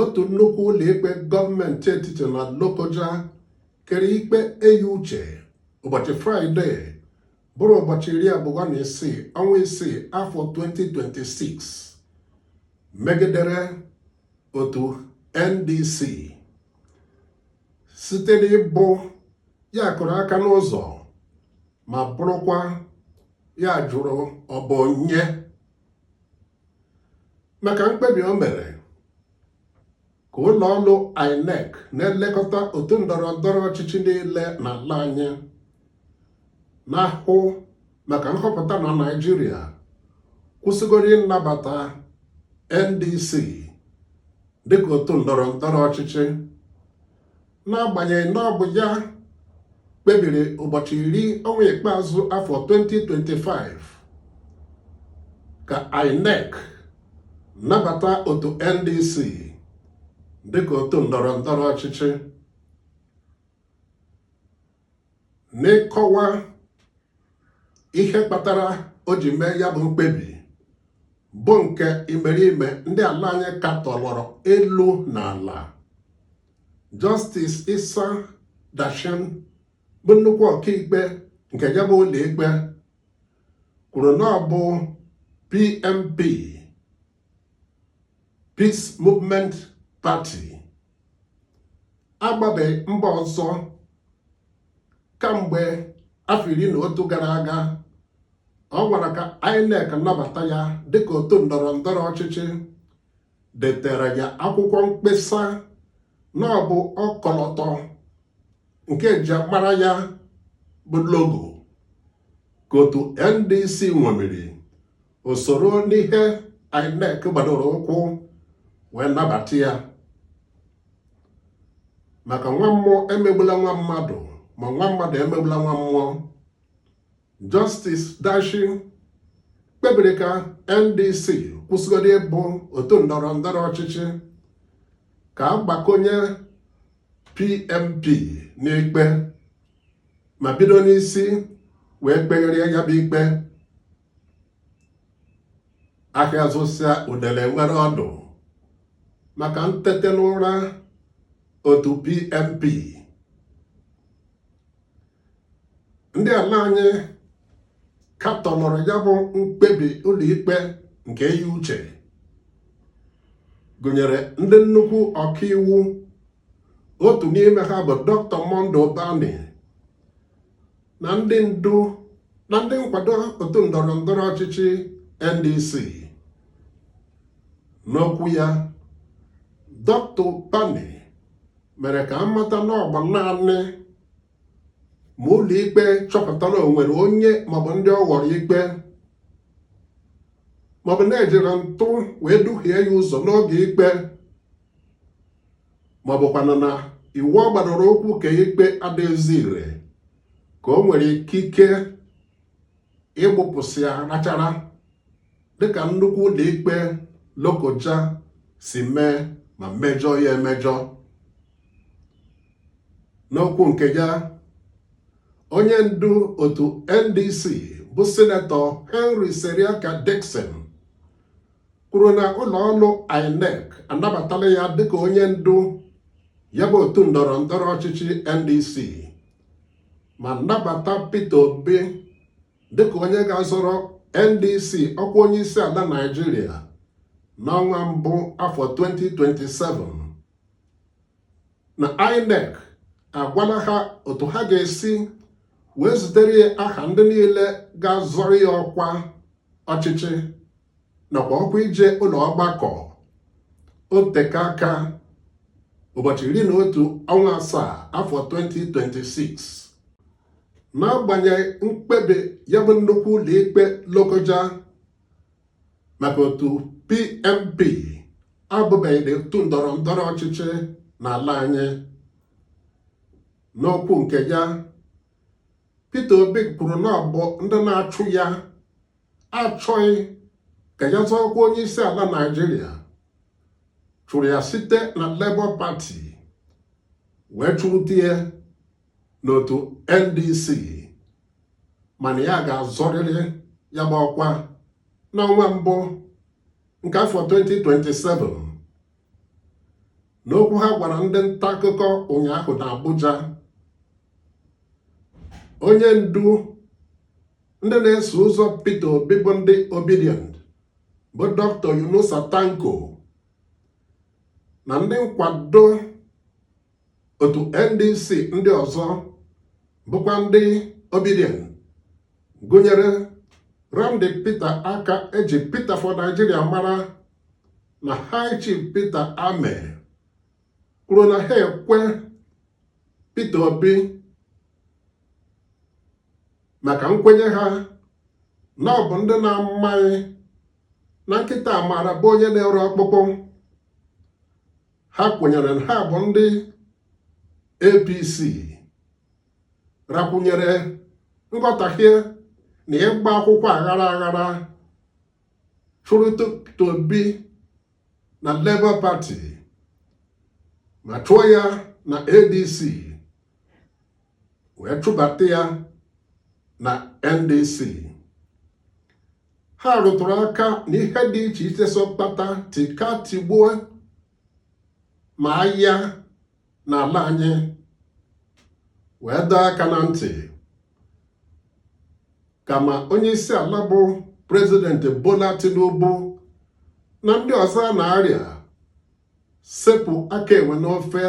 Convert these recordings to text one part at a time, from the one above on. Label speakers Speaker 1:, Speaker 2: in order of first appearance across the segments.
Speaker 1: otu nnukwu ụlọikpe gọọmenti etiti na Lokoja kere ikpe eyi uche ụbọchị fraịde bụrụ ụbọchị iri abụọ na isii ọnwa isii afọ 2026 megidere otu NDC site n'ịbụ ya kụrụ aka n'ụzọ ma bụrụkwa ya jụrụ ọ bụ onye maka mkpebi o mere ka ụlọ ọrụ INEC na-elekọta otu ndọrọ ndọrọ ọchịchị niile n'ala anyị na-ahụ maka nhọpụta na Naịjirịa kwụsịgodị ịnabata NDC dịka otu ndọrọ ndọrọ ọchịchị n'agbanyeghị na ọ bụ ya kpebiri ụbọchị iri ọnwa ikpeazụ afọ 2025 ka INEC nabata otu NDC dịka otu ndọrọ ndọrọ ọchịchị n'ịkọwa ihe kpatara o ji mee ya bụ mkpebi bụ nke imerime ndị ala anyị katọlọrọ elu na ala Justice Isa Dashen bụ nnukwu ọkaikpe nke ya bụ ụlọikpe kwuru na ọ bụ PMP Peace Movement Party agbabeghị mbọ ọzọ kamgbe afọ iri na otu gara aga ọ nwara ka INEC nabata ya dịka otu ndọrọ ndọrọ ọchịchị detere ya akwụkwọ mkpesa na ọ bụ ọkọlọtọ nke e ji mara ya bụ logo ka otu NDC ṅomiri o soro n'ihe INEC gbadoro ụkwụ wee nabata ya maka nwa mmụọ emegbula nwa mmadụ ma nwa mmadụ emegbula nwa mmụọ Justice Dashen kpebiri ka NDC kwụsịgodị ịbụ otu ndọrọ ndọrọ ọchịchị ka a gbakọnye PMP n'ikpe ma bido n'isi wee kpegharịa ya bụ ikpe ahịa zụsịa udele enwere ọdụ maka ntete n'ụra otu PMP ndị ala anyị katọnụrụ ya bụ mkpebi ụlọikpe nke eyi uche gụnyere ndị nnukwu ọkaiwu otu n'ime ha bụ Doctor Monday Ubani na ndị ndu na ndị nkwado otu ndọrọ ndọrọ ọchịchị NDC n'okwu ya Dr. Ubani mere ka amata na ọ bụ naanị ma ụlọikpe chọpụta na o nwere onye maọbụ ndị ọ ghọrọ ikpe maọbụ na ejiri ntụ wee duhie ya ụzọ n'oge ikpe ma ọ bụkwanụ na iwu ọ gbadoro ụkwụ kpee ikpe adịghịzi ire ka o nwere ikike ịgbụpụsị ya rachara dịka nnukwu ụlọikpe Lokoja si mee ma mejọ ya emejọ n'okwu nke ya onye ndu otu NDC bụ sinetọ Henry Seriake Dickson kwuru na ụlọ ọrụ INEC anabatala ya dịka onye ndu ya bụ otu ndọrọ ndọrọ ọchịchị NDC ma nabata Peter Obi dịka onye ga-azọrọ NDC ọkwa onye isi ala Naịjirịa n'ọnwa mbụ afọ 2027 na INEC agwala ha otu ha ga-esi wee zitere ya aha ndị niile ga-azọrọ ya ọkwa ọchịchị nakwa ọkwa ije ụlọ ọgbakọ o teka aka ụbọchị iri na otu ọnwa asaa afọ 2026 n'agbanyeghị mkpebi ya bụ nnukwu ụlọikpe Lokoja maka otu PMP abụbeghị otu ndọrọ ndọrọ ọchịchị n'ala anyị n'okwu nke ya Peter Obi kwuru na ọ bụ ndị na-achụ ya achọghị ka ya zọọ ọkwa onye isi ala Naịjirịa chụrụ ya site na Labour Party wee chụrute ya n'otu NDC mana ya ga-azọrịrị ya bụ ọkwa n'ọnwa mbụ nke afọ 2027 n'okwu ha gwara ndị nta akụkọ ụnyaahụ na Abuja onye ndu ndị na-eso ụzọ Peter Obi bụ ndị Obidient bụ Dr. Yunusa Tanko na ndị nkwado otu NDC ndị ọzọ bụkwa ndị Obidient gụnyere Randy Peter Akah eji Peter for Nigeria mara na High Chief Peter Ameh kwuru na ha ekwe Peter Obi maka nkwenye ha na ọ bụ ndị na-amaghị na nkịta maara be onye na-ere ọkpụkpụ ha kwenyere na ha bụ ndị APC rakwụnyere nghọtahie na ịgba akwụkwọ aghara aghara chụrụ Peter Obi na Labour Party ma chụọ ya na ADC wee chụbata ya na NDC ha rụtụrụ aka n'ihe dị iche iche so kpata tika tigbuo ma ahịa n'ala anyị wee dọọ aka na ntị ka ma onye isi ala bụ President Bola Tinubu na ndị ọzọ na-arịa sepụ aka enwe n'ofe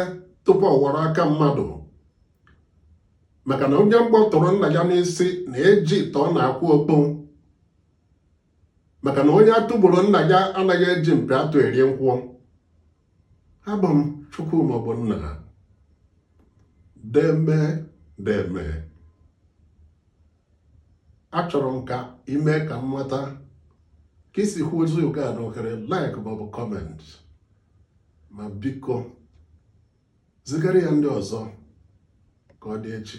Speaker 1: tupu ọ ghọrọ aka mmadụ maka na onye mgbọ tụrụ nna ya n'isi na-eji ite ọna akpụ okpu maka na onye atụ gburu nna ya anaghị eji mpi atụ eri nkwụ abụ m Chukwuma Ogbonna deeme deeme achọrọ m ka i mee ka m mata ka i si hụ ozi oge a n'ohere like maọbụ comment ma biko zigara ya ndị ọzọ ka ọ dị echi